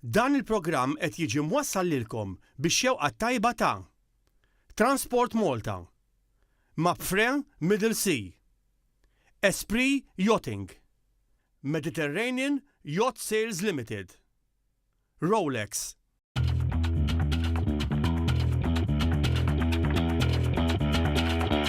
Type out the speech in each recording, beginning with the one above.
Dan il-programm qed jiġi mwassal lilkom bix-xewqa t-tajba ta' Transport Malta, Mapfre Middle Sea, Esprit Yachting, Mediterranean Yacht Sales Limited, Rolex,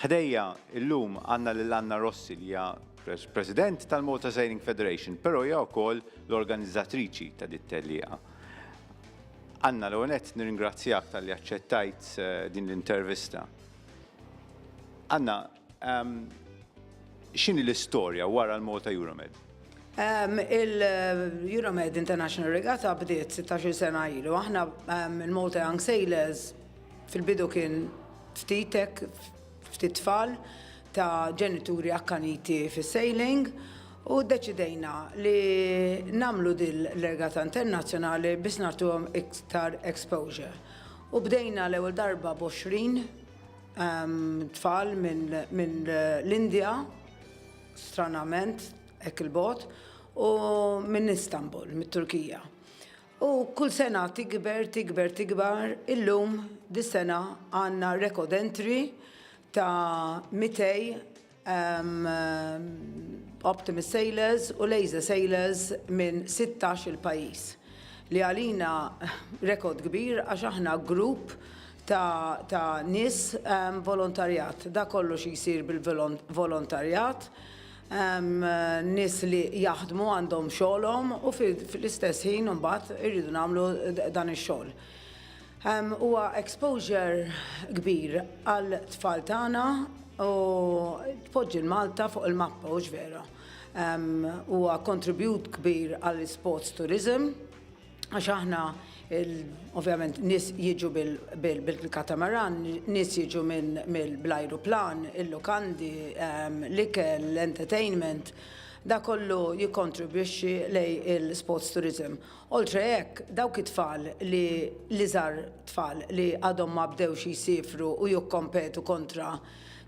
Ħdejja illum għandna lil Anna Rossi li hija President tal-Malta Sailing Federation, però hija wkoll l-organizzatriċi ta' dit-tellieqa. Anna, l-ewwel nett nirringrazzjak talli aċċettajt eh, din l-intervista. Anna, ehm, x'inhi l-istorja wara l-Malta Euromed? Um, Il-Euromed International Regatta bdiet 16 sena ilu. Aħna um, il-Malta Young Sailors Fil-bidu kien ftit hekk, ftit tfal ta' ġenituri akkaniti fis-sailing u ddeċidejna li nagħmlu din l-regata internazzjonali biex nagħtuhom iktar exposure. U bdejna l-ewwel darba b'għoxrin tfal minn l-Indja, stranament hekk il-bogħod, u minn Istanbul, mit-Turkija. U kull sena tikber, tikber, tikbar, illum dis-sena għandna record entry ta' 200 um, Optimist Sailors u Laser Sailors minn 16 il-pajjiż li għalina rekord kbir għax aħna grupp ta', ta nis um, volontarjat. Da kollu xi jsir bil-volontarjat. Hemm nies li jaħdmu, għandhom xogħolhom u fl-istess ħin imbagħad irridu nagħmlu dan ix-xogħol. Huwa exposure kbir għal tfal tagħna u tpoġġi l-Malta fuq il-mappa, hux vera? Huwa contribute kbir għall-sports tourism. Għax aħna ovvjament nis jiġu bil-katamaran, nis jiġu mill-ajruplan, il-lukandi, ehm, l-ikel, l-entertainment, da kollu jikontribwixxi lej il-sports tourism. Oltre hekk, dawk it-tfal li li żar tfal li għadhom ma bdewx jisifru u jikkompetu kontra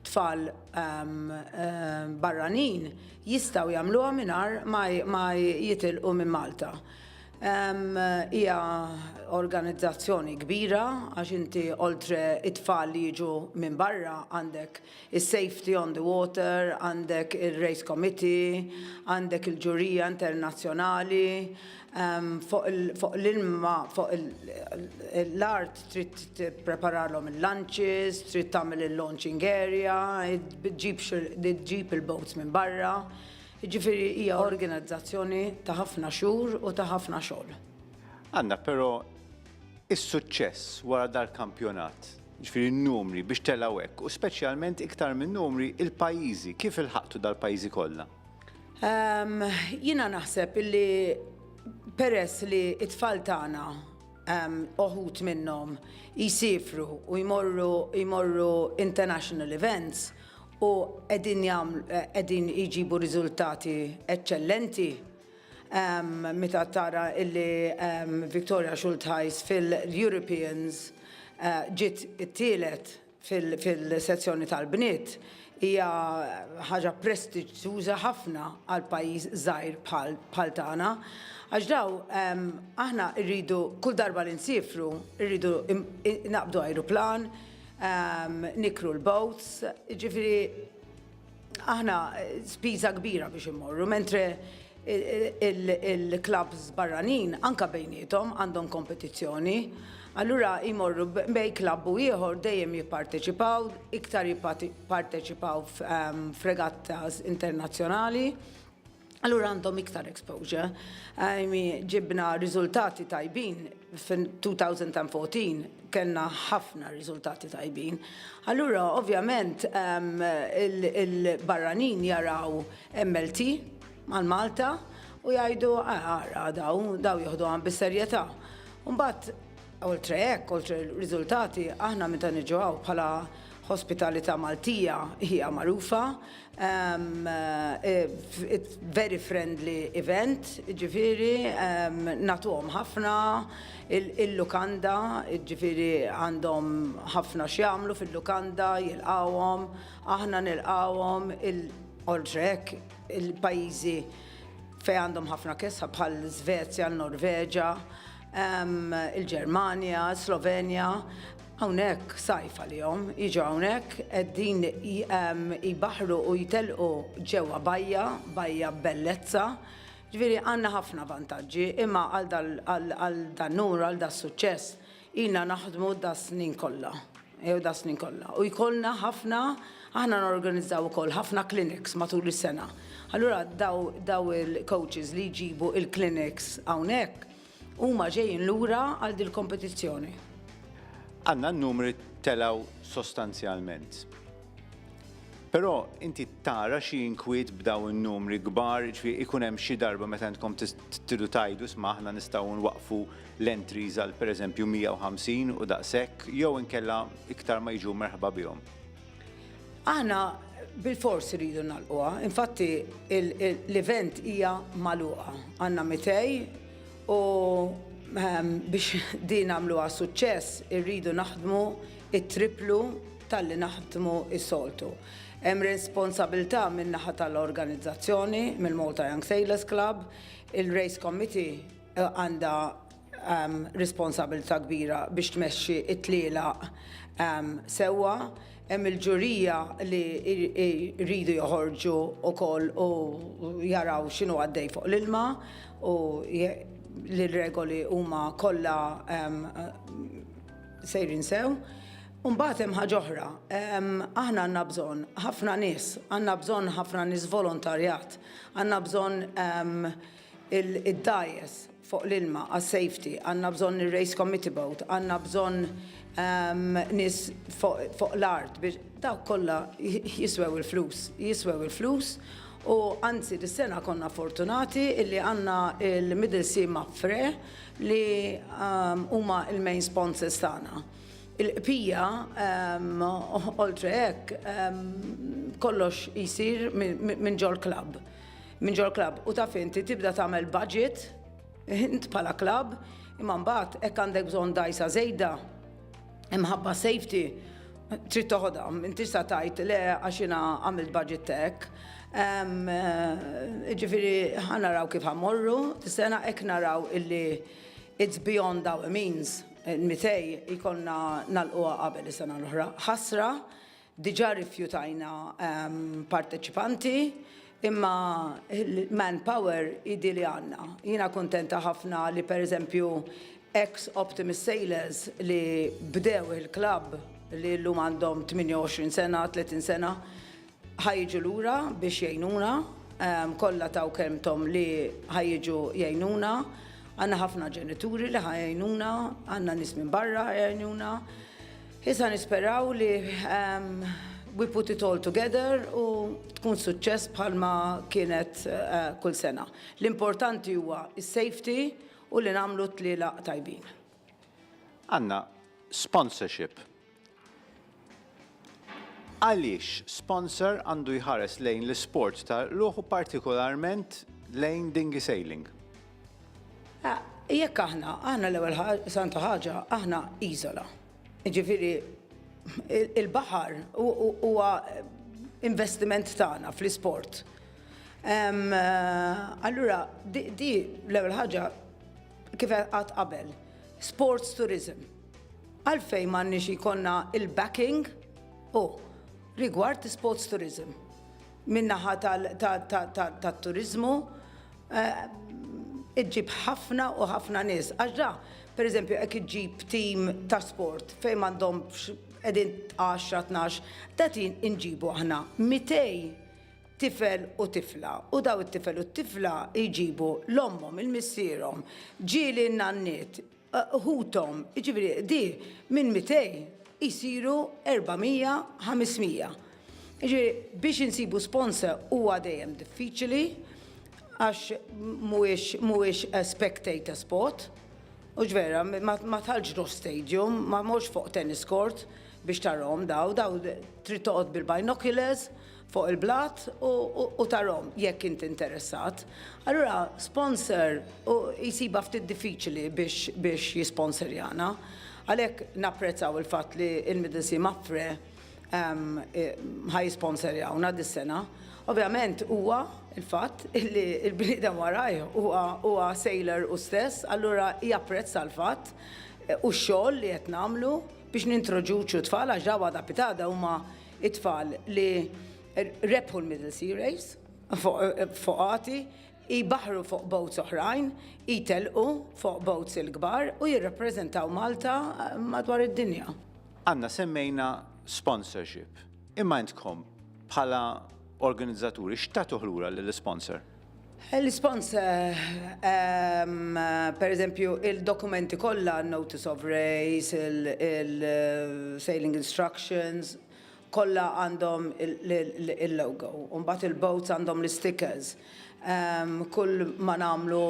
tfal um, um, barranin jistaw jagħmluha mingħajr ma jitilqu minn Malta. Hija organizzazzjoni kbira għax inti oltre t-tfal li jiġu minn barra għandek is-safety on the water, għandek ir-race committee, għandek il-ġurija internazzjonali. Fuq l-ilma, fuq l-art trid tippreparalhom il-lunches, trid tagħmel il-launching area, ġġib il-boats minn barra, Jiġifieri hija organizzazzjoni ta' ħafna xhur u ta' ħafna xogħol. Għandna però is-suċċess wara dal-kampjonat, jiġifieri n-numri biex telgħu hekk u speċjalment iktar minn numri il-pajjiżi, kif ilħaqtu dal-pajjiżi kollha? Jiena naħseb illi peress li t-tfal tagħna uħud minnhom jsiefru u jmorru international events, u qegħdin jagħmlu qegħdin jġibu riżultati eċċellenti meta tara illi Victoria Schultheis fil-Europeans ġiet it-tielet fil-sezzjoni tal-bniet hija ħaġa prestiġjuża ħafna għal pajjiż żgħir bħal tagħna għax daw aħna rridu kull darba li nsiefru rridu naqbdu ajruplan Nikru l-boats, ġifiri aħna spiża kbira biex immorru, mentre il-klabs barranin anka bejnietom għandhom kompetizzjoni. Allura jmorru bej klabb u ieħor dejjem jipparteċipaw, iktar jipparteċipaw f'regattas internazzjonali. Allura għandhom iktar exposure. Għajmi ġibna riżultati tajbin fin-2014 kellna ħafna riżultati tajbin. Allura, ovvjament, ehm, il-barranin jaraw MLT mal Malta u jgħidu għara ah, daw, daw jieħdu għan bis-serjetà. Mbagħad oltre hekk, oltre riżultati, aħna meta niġu bħala hospitalità Maltija hija magħrufa It's very friendly event, jiġifieri nagħtuhom ħafna, il-lukanda, jiġifieri għandhom ħafna x'jagħmlu fil-lukanda, jilqgħuhom, aħna nilqgħuhom, oltre hekk il-pajjiżi fejn għandhom ħafna kesħa bħall-Svezja, n-Norveġa, il-Ġermanja, s-Slovenja. Hawnhekk sajf għalihom, jiġu hawnhekk qegħdin jbaħħru u jtellqu ġewwa bajja, bajja b'bellezza. Ġifieri għandna ħafna vantaġġi, imma għal dan-numru, għal das-suċċess, ilna naħdmu das-snin kollha, jew das-snin kollha. U jkollna ħafna, aħna norganizzaw ukoll ħafna clinics matul is-sena. Allura daw il-coaches li jġibu il-clinics hawnhekk, Huma ġejjin lura għal dil-kompetizzjoni. Għandna n-numri telgħu sostanzjalment. Però inti tara xi inkwiet b'dawn in-numri kbar, jiġifieri ikun hemm xi darba meta intkom tidu tgħidu isma' aħna nistgħu nwaqqfu l-entries għal pereżempju 150 u daqshekk jew inkella iktar ma jiġu merħba bihom? Aħna bil-fors rridu nalquha, infatti l-event hija maluqa. Għanna mitej u ehm, biex din għamluha suċċess irridu naħdmu it-triplu tal-li naħdmu is-soltu. Hemm responsabilità minn naħa tal-organizzazzjoni, mill-Malta Young Sailors Club, il-Race Committee eh, għandha hemm responsabilità kbira biex tmexxi t-tlielaq sewwa. Hemm il-ġurija li jridu joħorġu wkoll u jaraw x'inhu għaddej fuq l-ilma u li r-regoli huma kollha sejrin sew. U mbagħad hemm ħaġa oħra, aħna għandna bżonn ħafna nies, għandna bżonn ħafna nies volontarjat, għandna bżonn id-dgħajjes fuq l-ilma għas-safety, għandna bżonn ir-race committee boat, għandna bżonn nies fuq l-art biex, dawk kollha jiswew il-flus, jiswew il-flus u anzi dis-sena konna fortunati illi għandna l-Middle Sea Mapfre li huma l-main sponsors tagħna. Il-bqija, oltre hekk, kollox jsir minn ġol-club. minn ġol-klabb u taf inti tibda tagħmel budget int bħala klabb imma mbagħad hekk għandek bżonn dgħajsa żejda imħabba safety trid toħodha, inti sa tajt le għax jiena għamilt budget tek. Eh, ġifieri ħanaraw kif ħamorru, sena hekk naraw illi it's beyond our means. Mitej ikonna nal-qwa qabel is-sena l-oħra. Ħasra Diġà rrifjutajna parteċipanti imma l-manpower jidhi li għandna. Jiena kuntenta ħafna li pereżempju ex Optimist Sailors li bdew il-klabb li llum għandhom 28 sena, 30 sena, ħa jiġu lura biex jgħinuna, kollha taw kelmthom li ħa jiġu jgħinuna. Għandna ħafna ġenituri li ħa jgħinuna, għandna nies minn barra ħa jgħinuna. Issa nisperaw li we put it all together u tkun suċċess bħalma kienet kull sena. L-importanti huwa is-safety u li nagħmlu t-tlielaq tajbin. Għandna sponsorship. Għaliex sponsor għandu jħares lejn l-isport tal-qlugħ u partikolarment lejn dinghy sailing? Ah, jekk aħna, aħna l-ewwel santa ħaġa, aħna iżola. Ġifieri il-baħar huwa investiment tagħna fl-isport. Eh, allura, di l-ewwel ħaġa kif qatt qabel, sports tourism. Għalfejn m'għandniex ikonna il-backing u rigward sports tourism. min-naħa tat-turiżmu iġġib ħafna u ħafna nies. Għax ġa, pereżempju, jekk iġġib tim ta' sport fejn m'għandhomx qegħdin għaxra tnax, qegħdin inġibu aħna mitej tifel u tifla u dawn it-tifel u t-tifla jġibu 'l ommhom, 'il missierhom, ġieli n-nanniet, ħuthom, jiġifieri di minn 200 jsiru 400, 500. Jiġifieri biex insibu sponsor huwa dejjem diffiċili għax mhuwiex spectator sport. U ġvera, ma tħallx tħoss stadium, ma morx fuq tennis court biex tarahom daw, daw trid toqgħod bil-binoculars fuq il-blat u tarhom jekk int interessat. Allura sponsor jsibha ftit diffiċli biex jisponsorjana. Għalhekk napprezzaw il-fatt li l-Middle Sea Mapfre ħa jisponsorjawna dis-sena. Ovvjament huwa l-fatt li l-bniedem warajh huwa sailor hu stess, allura japprezza l-fatt u x-xogħol li qed nagħmlu biex nintroduċu t-tfal għax dawn għada pitada huma It-tfal li rebħu l-Middle Sea Race foqati jbaħħru fuq boats oħrajn, jtelqu fuq boats il-kbar u jirrappreżentaw Malta madwar id-dinja. Anna, semmejna sponsorship. Imma intkom bħala organizzaturi x'tagħtuh lura lill-isponsor? L-ispons, pereżempju, il-dokumenti kollha, notice of race, il-sailing instructions, kollha għandhom il-logo. U mbagħad il-boats għandhom l-istickers. Kull ma nagħmlu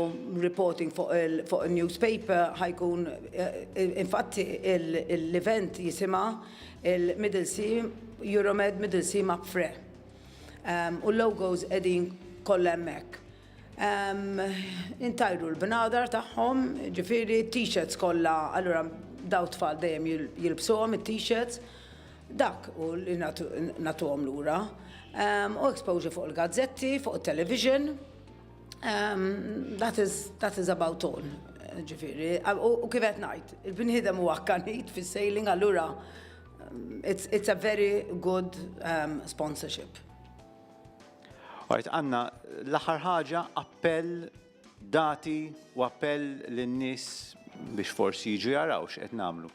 reporting fuq in-newspaper ħajkun, infatti l-event jisimha l-Middle Sea, Euromed Middle Sea Map Fair. u l-logos qegħdin kollha hemmhekk. Intajru l-bnadar tagħhom, ġifieri t-t-shirts kollha, allura daw tfal dejjem jilbsuhom it-t-shirts, dak hu li nagħtuhom lura. U exposure fuq il-gazzetti, fuq it-television, that is, that is about all, ġifieri. U kif qed ngħid, il-bniedem huwa akkanit fis-sailing allura It's, it's a very good um, sponsorship. Għajt, għanna l-axar ħaġa appell dati u appell l-nis biex forsi jiġu jaraw x'qed namlu.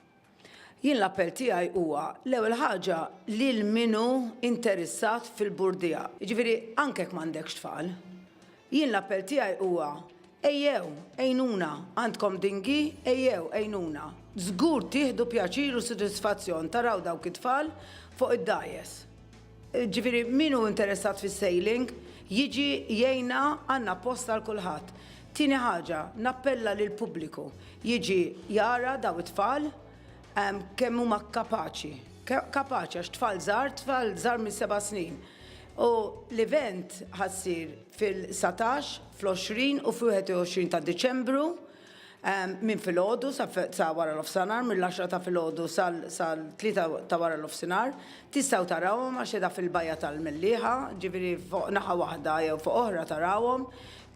Jien l-appell tiegħi huwa l-ewwel ħaġa li l-minu interessat fil-burdija. Jiġifieri anke m'għandekx tfal, Jien l-appell tiegħi huwa, ejjew, għinuna, għandkom dingi, ejjew, għinuna. Żgur tieħdu pjaċir u sodisfazzjon taraw dawk it-tfal fuq id-dgħajjes. Ġifieri min hu interessat fis-sailing, jiġi jgħinna għandna post għal kulħadd. Tieni ħaġa, nappella lill-pubbliku jiġi jara daw it-tfal kemm huma kapaċi. Kapaċi għax tfal żgħar, tfal żgħar minn seba' snin. u l-event ħa ssir fil-satax, fl-għoxrin u fl-wieħed u għoxrin ta' Diċembru minn filgħodu sa sa wara nofsinhar, mill-għaxra ta' filgħodu sal sal-tlieta ta' wara nofsinhar. Tistgħu tarawhom għax qiegħda fil-Bajja tal-Mellieħa, ġifieri fuq naħa waħda jew fuq oħra tarawhom.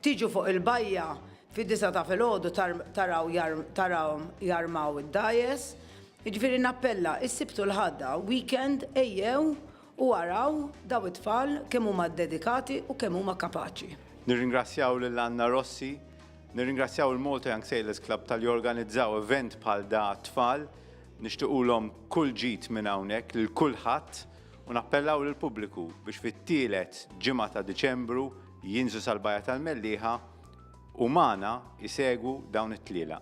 Tiġu fuq il-bajja fid-disgħa ta' filgħodu tar taraw jar tarawhom jarmaw id-dgħajjes. Jiġifieri nappella, is-Sibt u l-Ħadda, weekend, ejjew U araw dawn it-tfal kemm huma ddedikati u kemm huma kapaċi. Nirringrazzjaw lil Anna Rossi, nirringrazzjaw il-Malta Young Sailors Club talli organizzaw event bħal da għat-tfal. Nixtiqulhom kull ġid minn hawnhekk lil kulħadd u nappellaw lill-pubbliku biex fit-tielet ġimgħa ta' Diċembru jinżlu sal-Bajja tal-Mellieħa u magħna jsegwu dawn it-tlielaq.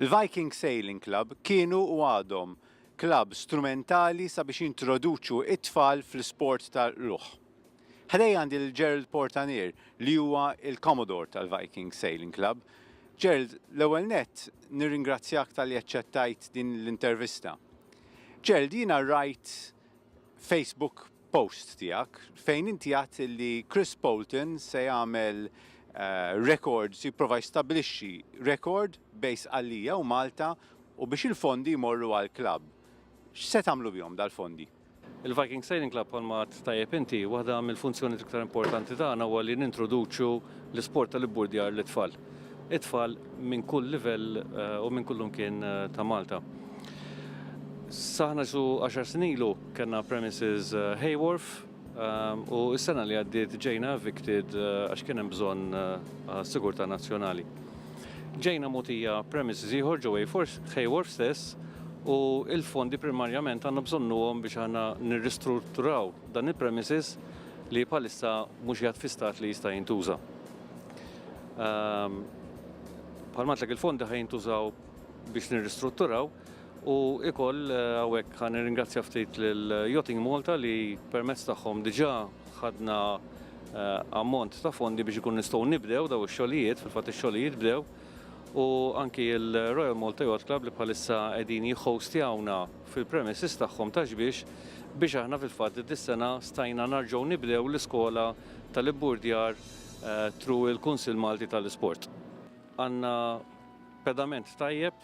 Il-Viking Sailing Club kienu u għadhom klabb strumentali sabiex jintroduċu t-tfal fl-isport tal-qlugħ. Ħdejja għandi lil Gerald Portanier li huwa l-Commodore tal-Viking Sailing Club. Gerald, l-ewwel nett nirringrazzjak talli aċċettajt din l-intervista. Gerald, jiena rajt Facebook post tiegħek fejn inti għadt li Chris Poulton se jagħmel eh, rekord, se jipprova jistabbilixxi rekord bejn Sqallija u Malta u biex il-fondi jmorru għall-klabb. X'se tagħmlu bihom dal-fondi? Il-Viking Sailing Club bħalma għadt tajjeb inti, waħda mill-funzjonijiet l-iktar importanti tagħna huwa li nintroduċu l-isport tal-ibburdjar lit-tfal. It-tfal minn kull livell u minn kull imkien ta' Malta. Sa aħna xi għaxar snin ilu kellna premises Hay Wharf u s-sena li għaddiet ġejna evicted għax kien hemm bżonn għas-sigurtà nazzjonali. Ġejna mogħtija premises ieħor ġo Hayworth stess u l-fondi primarjament għandna bżonnuhom biex aħna nirristrutturaw dan il-premises li bħalissa mhux qiegħed fi stat li jista' jintuża. Bħalma għedtlek il-fondi ħa jintużaw biex nirristrutturaw. U ikoll hawnhekk ħa nirringrazzja ftit lil Yachting Malta li permezz tagħhom diġà ħadna ammont ta' fondi biex ikun nistgħu nibdew daw ix-xogħlijiet, fil-fatt ix-xogħlijiet bdew, u anki l-Royal Malta Yacht Club li bħalissa qegħdin jihhostjawna fil-premises tagħhom ta' Xbiex biex aħna fil-fatt dis-sena stajna narġgħu nibdew l-iskola tal-ibburdjar through il-Kunsill Malti tal-Isport. Għandna pedament tajjeb.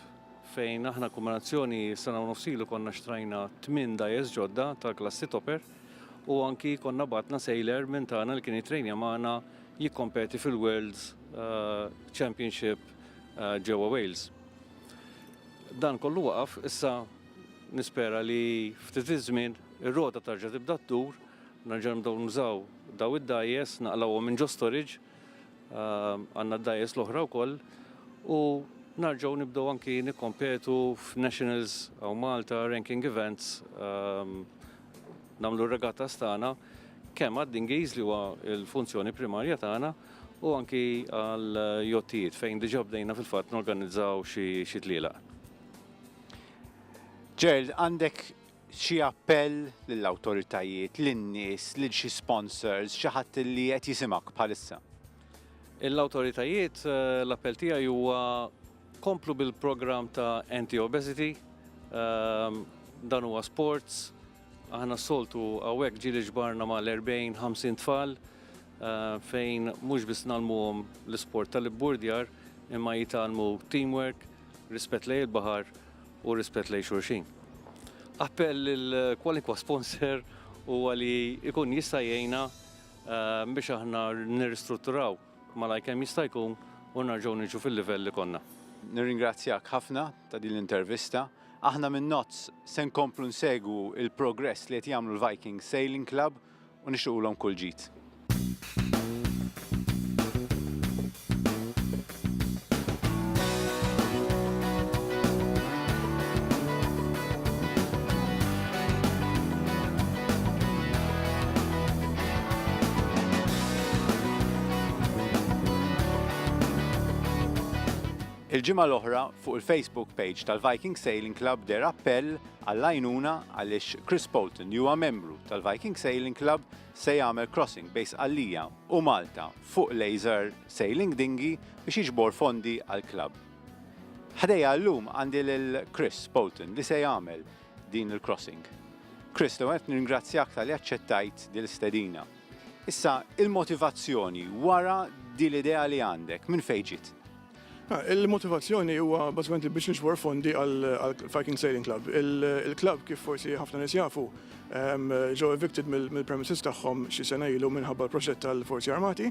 fejn aħna kombinazzjoni sena u nofs ilu konna xtrajna tmien dajes ġodda tal-klassi Topper u anki konna batna sejler minn tagħna li kien jitrejnja magħna jikkompeti fil-World's eh, Championship eh, ġewwa Wales. Dan kollu waqaf, issa nispera li ftit iż-żmien ir-rota tarġa' tibda tdur, nerġa' nibdew nużaw daw id-dajes, naqlawhom minn ġo storage Għandna d-dgħajjes l-oħra wkoll u narġgħu nibdew anki nikkompetu f'Nationals u Malta Ranking Events nagħmlu r-regattas tagħna kemm għad-dingiż li huwa l-funzjoni primarja tagħna u anki għal jottijiet fejn diġà bdejna fil-fatt norganizzaw xi tlielaq. Gerald, għandek Xi appell lill-awtoritajiet, lin-nies, lil xi sponsors, xi ħadd li qed jisimgħek bħalissa? Lill-awtoritajiet l-appell tiegħi huwa komplu bil-programm ta' Anti-Obesity. Dan huwa sports. Aħna s-soltu hawnhekk ġieli ġbarna mal-40, 50 tfal fejn mhux biss ngħallmuhom l-isport tal-ibburdjar imma jitgħallmu teamwork, rispett lejn il-baħar u rispett lejn xulxin. Appell lil kwalinkwa sponsor huwa li jkun jista' jgħinna biex aħna nirristrutturaw malajr kemm jista' jkun u nerġgħu niġu fil-livell li konna. Nirringrazzjak ħafna ta' din l-intervista. Aħna minn Nozz se nkomplu nsegwu l-progress li qed jagħmlu l-Viking Sailing Club. u nixtiequlhom kull ġid. Il-ġimgħa l-oħra, fuq il-Facebook page tal-Viking Sailing Club deher appell għall-għajnuna għaliex Chris Poulton li huwa membru tal-Viking Sailing Club se jagħmel crossing bejn Sqallija u Malta fuq Laser Sailing Dinghy biex jiġbor fondi għall-club. Ħdejja llum għandi lil Chris Poulton li se jagħmel din il-crossing. Chris, l-ewwel nett nirringrazzjak talli aċċettajt din l-istedina. Issa, il-motivazzjoni wara din l-idea li għandek, minn fejn ġiet? Il-motivazzjoni huwa bażikament li biex niġbor fondi għall-Viking Sailing Club. Il-klabb kif forsi ħafna nies jafu ġew evicted mill-premises tagħhom xi sena ilu minħabba l-proġett tal-Forzi Armati u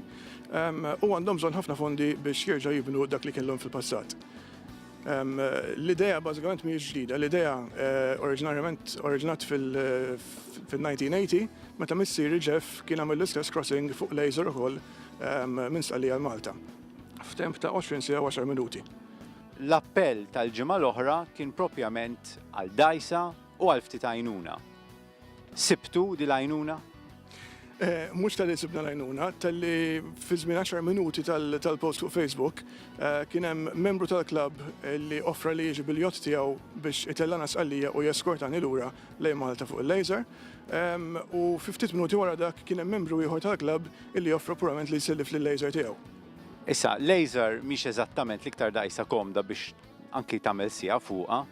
għandhom bżonn ħafna fondi biex jerġgħu jibnu dak li kellhom fil-passat. L-idea bażikament mhijiex ġdida, l-idea oriġinarjament oriġinat fil-1980 meta missieri Jeff kien għamel l-istess crossing fuq l-Azore ukoll minn Stqallija għal Malta. f'temp ta' 20 siegħa u 10 minuti. L-appell tal-ġimgħa l-oħra kien propjament għal dgħajsa u għal ftit għajnuna. Sibtu din l-għajnuna? Eh, mux tal-li sibna lajnuna, tal-li fi żmien 10 minuti tal-post fuq Facebook eh, kien hemm membru tal-klab eh, li offra li jiġi biljot tiegħu biex itellana sqallija u jeskortani lura lejn Malta fuq il-laser. Ehm, u fi ftit minuti wara dak kien hemm membru ieħor tal-klab illi joffru purament li jsellif lil-laser tiegħu. Issa, laser mhix eżattament l-iktar dgħajsa komda biex anki tagħmel siegħa fuqha.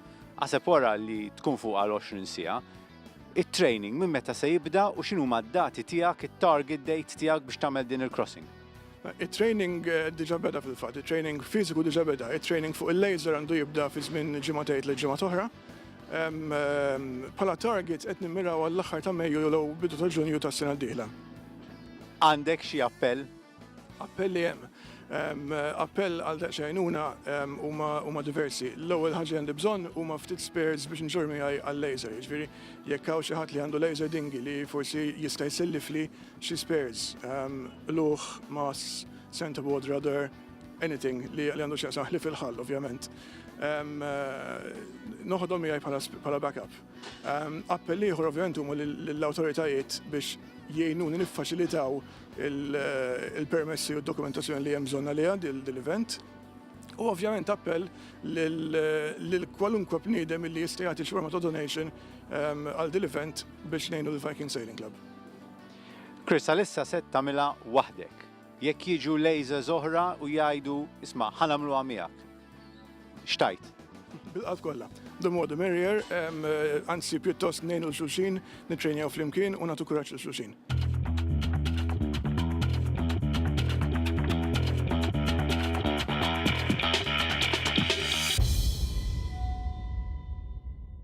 Aħseb wara li tkun fuqha għal 20 siegħa. It-training minn meta se jibda u x'inhuma d-dati tiegħek, it-target date tiegħek biex tagħmel din il-crossing? It-training diġà beda fil-fatt. It-training fiżiku diġà beda. It-training fuq il-laser għandu jibda fi żmien ġimgħa tgħid lil ġimgħa t'oħra. Bħala targets qed nimmiraw għall-aħħar ta' Mejju jew bidu ta' Ġunju tas-sena d-dieħla. Għandek xi appell? Appelli hemm. Appell għal daqs għajnuna huma diversi. L-ewwel ħaġa għandi bżonn huma ftit spares biex nġorr miegħi għal-laser. Jiġifieri jekk hawn xi ħadd li għandu laser dingi li forsi jista' jsellifli xi spares, luħ, mass, center board, rudder, anything li għandu x'jaqsam ħlief il-ħall ovvjament, noħodhom miegħi bħala backup. Appell ieħor ovvjament huma lill-awtoritajiet biex jgħinuni niffaċilitaw il-permessi u d-dokumentazzjoni li hemm bżonn għaliha dil-event. U ovvjament appell lil kwalunkwe bniedem li jista' jagħti xi forma ta' donation għal dil-event biex ngħinu l-Viking Sailing Club. Chris, għalissa se tagħmilha waħdek. Jekk jiġu Lazers oħra u jgħidu, isma', ħa nagħmluha miegħek. X'tgħid? Bil-qalb kollha. The more the merrier, anzi pjuttost ngħinu l-xulxin, nittrejnjaw flimkien u nagħtu kuraġġ lil xulxin.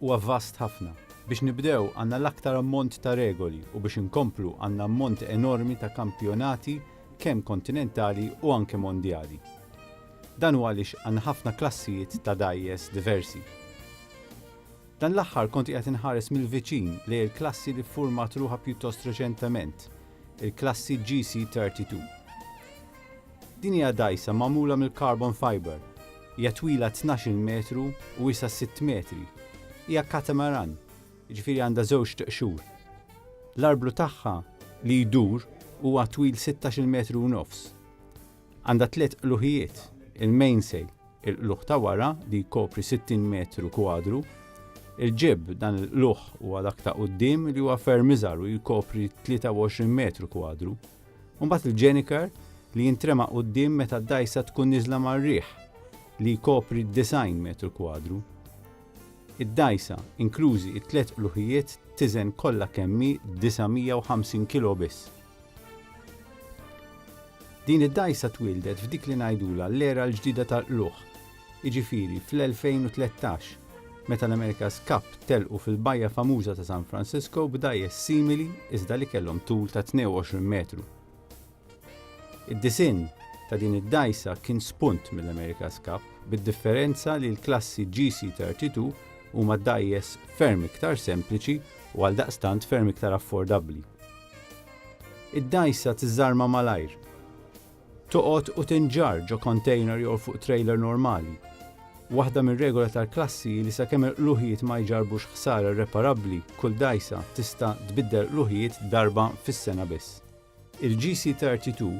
huwa vast ħafna. Biex nibdew għandna l-aktar ammont ta' regoli u biex inkomplu għandna ammont enormi ta' kampjonati kemm kontinentali u anke mondjali. Dan huwa għaliex għandna ħafna klassijiet ta' dgħajjes diversi. Dan l-aħħar kont qiegħed inħares mill-viċin lejn il-klassi li ffurmat ruħha pjuttost reċentement, il-klassi GC32. Din hija dgħajsa magħmula mill-carbon fibre, Hija twila tnax-il metru u wiesgħa sitt metri. Hija katamaran, jiġifieri għandha żewġt qxur. L-arblu tagħha li jdur huwa twil sittax-il metru u nofs. Għandha tliet qluħijiet, il-mainsail, il-qluħ ta' wara li jkopri sittin metru kwadru, il-jib, dan il-qluħ huwa dak ta' quddiem li huwa ferm iżgħar u jkopri tlieta u għoxrin metru kwadru, u mbagħad il-ġenikar li jintrema quddiem meta d-dgħajsa tkun niżla mar-riħ li jkopri d-90 metru kwadru. Id-dgħajsa, inklużi t-tliet qluħijiet, tiżen kollha kemm hi 950 kilo biss. Din id-dgħajsa twieldet f'dik li ngħidulha l-era l-ġdida tal-qluħ, jiġifieri fl-2013, meta l-America's Cup telqu fil-bajja famuża ta' San Francisco b'dgħajjes simili iżda li kellhom tul ta' 22 metru. Id-disinn ta' din id-dgħajsa kien spunt mill-America's Cup, bid-differenza li l-klassi GC32 huma dgħajjes ferm iktar sempliċi u għaldaqstant ferm iktar affordabbli. Id-dgħajsa tiżarma malajr. toqgħod u tinġarr ġo kontejner jew fuq trejler normali. Waħda mir-regola tal-klassi hi li sakemm il-qluħijiet ma jġarrbux ħsara irreparabbli, kull dgħajsa tista' tbiddel qluħijiet darba fis-sena biss. Il-GC32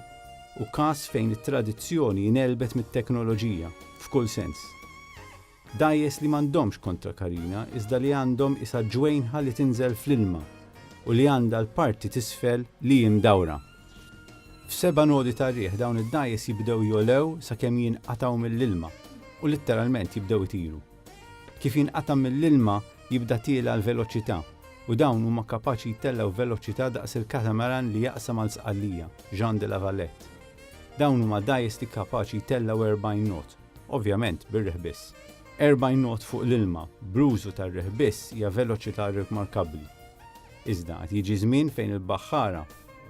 hu każ fejn it-tradizzjoni ngħelbet mit-teknoloġija, f'kull sens. Dgħajjes li m'għandhomx kontrakarina iżda li għandhom isa ġwejnħa li tinżel fl-ilma u li għandha l-parti t'isfel li hi mdawra. F'seba' nodi tar-riħ dawn id-dgħajjes jibdew jogħlew sakemm jinqatgħu mill-ilma u litteralment jibdew itiru. Kif jinqata' mill-ilma jibda tiela' l-veloċità u dawn huma kapaċi jtellgħu veloċità daqs il-catamaran li jaqsam għal Sqallija, Jean de la Valette. Dawn huma dgħajjes li kapaċi jtellgħu 40 knot. Ovvjament, bir-riħ biss. 40 knot fuq l-ilma, bl-użu tar-riħ biss hija veloċità rikmarkabbli. Iżda, għad jiġi żmien fejn il-baħħara,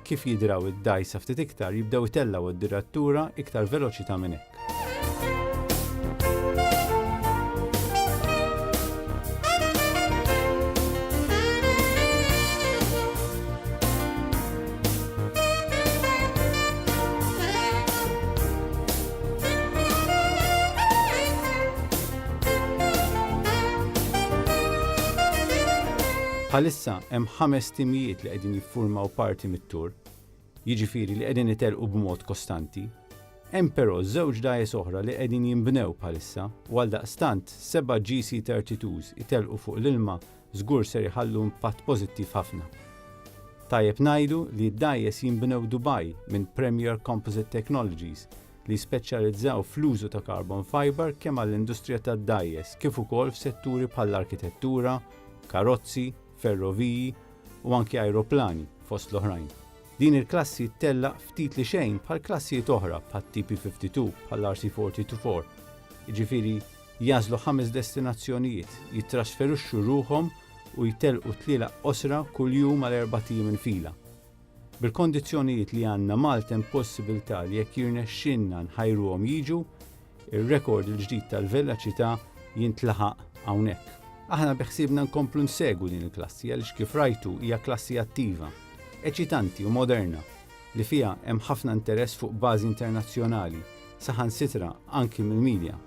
kif jidraw id-dgħajsa ftit iktar, jibdew itellgħu d-dirattura iktar veloċità minn hekk. Bħalissa hemm ħames timijiet li qegħdin jiffurmaw parti mit-tour, jiġifieri li qegħdin itelqu b'mod kostanti, Hemm però żewġ dgħajjes oħra li qegħdin jinbnew bħalissa u għaldaqstant seba' GC32s itelqu fuq l-ilma żgur ser iħallu impatt pożittiv ħafna. Tajjeb ngħidu li d-dgħajjes jinbnew Dubai minn Premier Composite Technologies li jispeċjalizzaw fl-użu ta' carbon fibre kemm għall-industrija tad-dgħajjes kif ukoll f'setturi bħall-arkitettura, karozzi, ferroviji u anki ajruplani, fost l-oħrajn. Din il-klassi ttellaq ftit li xejn bħal klassijiet oħra bħat-TP52, bħall-RC40 to 4, jiġifieri Jagħżlu ħames destinazzjonijiet, jittrasferixxu ruħhom u jtellqu tlielaq qosra kull jum għal erbat ijiem il-fila. Bil-kondizzjonijiet li għandna Malta hemm possibiltà li jekk jirnexxilna nħajruhom jiġu, ir-rekord il-ġdid tal-veloċità jintlaħaq hawnhekk. Aħna beħsiebna nkomplu nsegwu din il-klassi għaliex kif rajtu hija klassi attiva, eċitanti u moderna li fiha hemm ħafna interess fuq bażi internazzjonali, saħansitra anki mill-media.